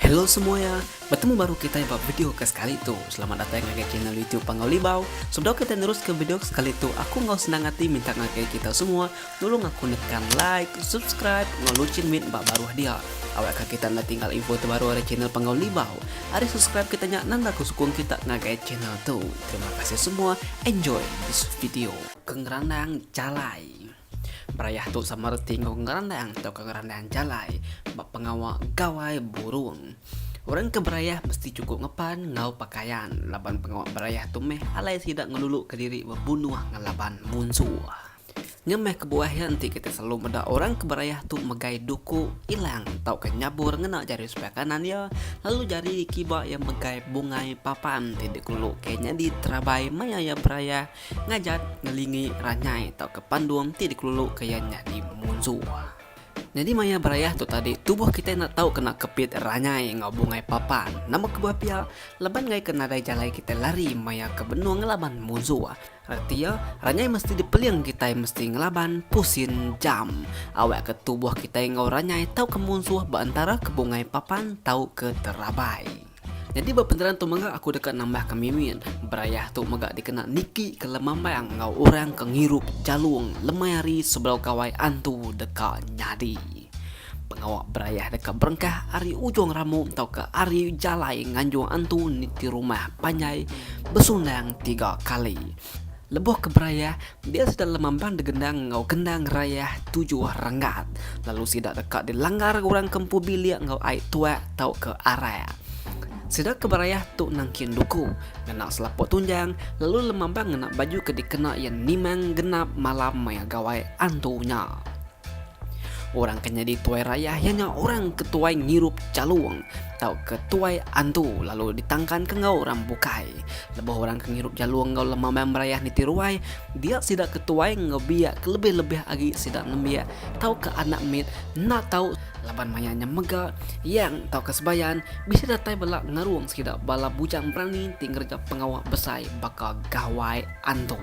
Hello semuanya, bertemu baru kitai ba video ke sekali tu. Selamat datai ngagai channel YouTube Panggau Libau. Sebedau kitai nerus ke video ke sekali tu, aku enggau senang ati minta ngagai kita semua Tulung aku nekan like, subscribe enggau luchin mit ba baruh dia. Awak ka kita enda tinggal info tebaru ari channel Panggau Libau. Ari subscribe kita nya nanda ku sukung kita ngagai channel tu. Terima kasih semua. Enjoy this video. Ke ngerandang jalai. Berayah tu sama reti enggau ngerandang tauka ngerandang jalai ba pengawa gawai burung. Orang ke berayah mesti chukup ngepan enggau pakaian laban pengawa berayah tu meh alai sida ngeluluka diri bebunuh ngelaban munsuh. Ngemeh kebuah iya enti kitai selalu meda orang ke berayah tu megai duku ilang tauka nyabur ngena jari sebelah kanan iya lalu jari kiba iya megai bungai papan ti dikelu ke nyadi terabai maya iya berayah ngajat ngelingi ranyai tauka pandung ti dikelulu ke iya nyadi munzur. Nyadi maya berayah tu tadi tubuh kitai enda tau kena kepit ranyai enggau bungai papan. Nama kebuah pia, laban ngaika nadai jalai kitai lari maya ke benung laban munzur, Reti iya, ranyai mesti dipeling kitai mesti ngelaban pusin jam. Awak ke tubuh kitai enggau ranyai tauka munsuh ba entara ke bungai papan tauka terabai. Nyadi ba penerang tu mega aku deka nambahka Mimin, berayah tu mega dikena niki ke lemambang enggau orang ke ngirup jalung lemai hari sebedau gawai antu deka nyadi. Pengawa berayah deka berengkah ari ujung ramu tauka ari jalai nganjung antu niti rumah panjai besundang tiga kali. Lebuh ke berayah, dia sida lemambang degendang enggau kendang rayah tujuh renggat lalu sida deka dilanggar orang ke empu bilik enggau ai tuak tauka arak. Sida ke berayah tu nangkin duku, ngena selaput tunjang lalu lemambang ngena baju ke dikena iya nimang genap malam maya gawai antu nya. Orang ke nyadi tuai rayah iya nya orang ke tuai ngirup jalung tauka tuai antu lalu ditangkanka enggau orang bukai. Lebuh orang ke ngirup jalung enggau lema maya merayah niti ruai, dia sida ke tuai enggau biak kelebih-lebih agi sida nembiak tauka anak mit enda tau laban maya nya mega yang tauka sebayan bisi datai bala ngarung sida bala bujang berani ti ngereja pengawa besai baka Gawai Antu.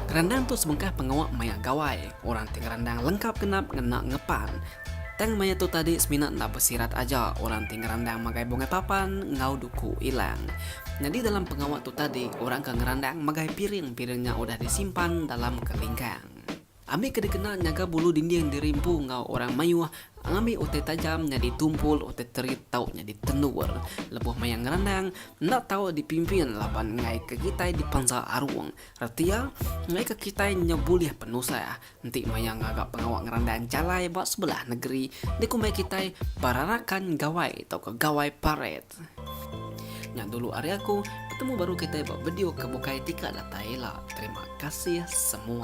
Kerandang tu sebengkah pengawa maya Gawai. Orang ti ngerandang lengkap genap ngena ngepan. Tang maya tu tadi semina enda besirat aja orang ti ngerandang magai bungai papan enggau duku ilang. Nyadi dalam pengawa tu tadi orang ke ngerandang magai piring-piring nya udah disimpan dalam kelingkang. Ambi ke dikena nyaga bulu dinding dirimpu enggau orang mayuh ngambi utai tajam nyadi tumpul utai terit tau nyadi tendur. Lebuh maya ngerandang enda tau dipimpin laban enggai ke kitai dipansa arung. Reti iya, ngaika kitai nyau bulih penusah enti maya ngaga pengawa ngerandai enchalai ba sebelah negeri dikumbai kitai Perarakan Gawai tauka Gawai Paret. Nya dulu ari aku, betemu baru kitai ba video ke bukai ti ka datai ila. Terima kasih semua.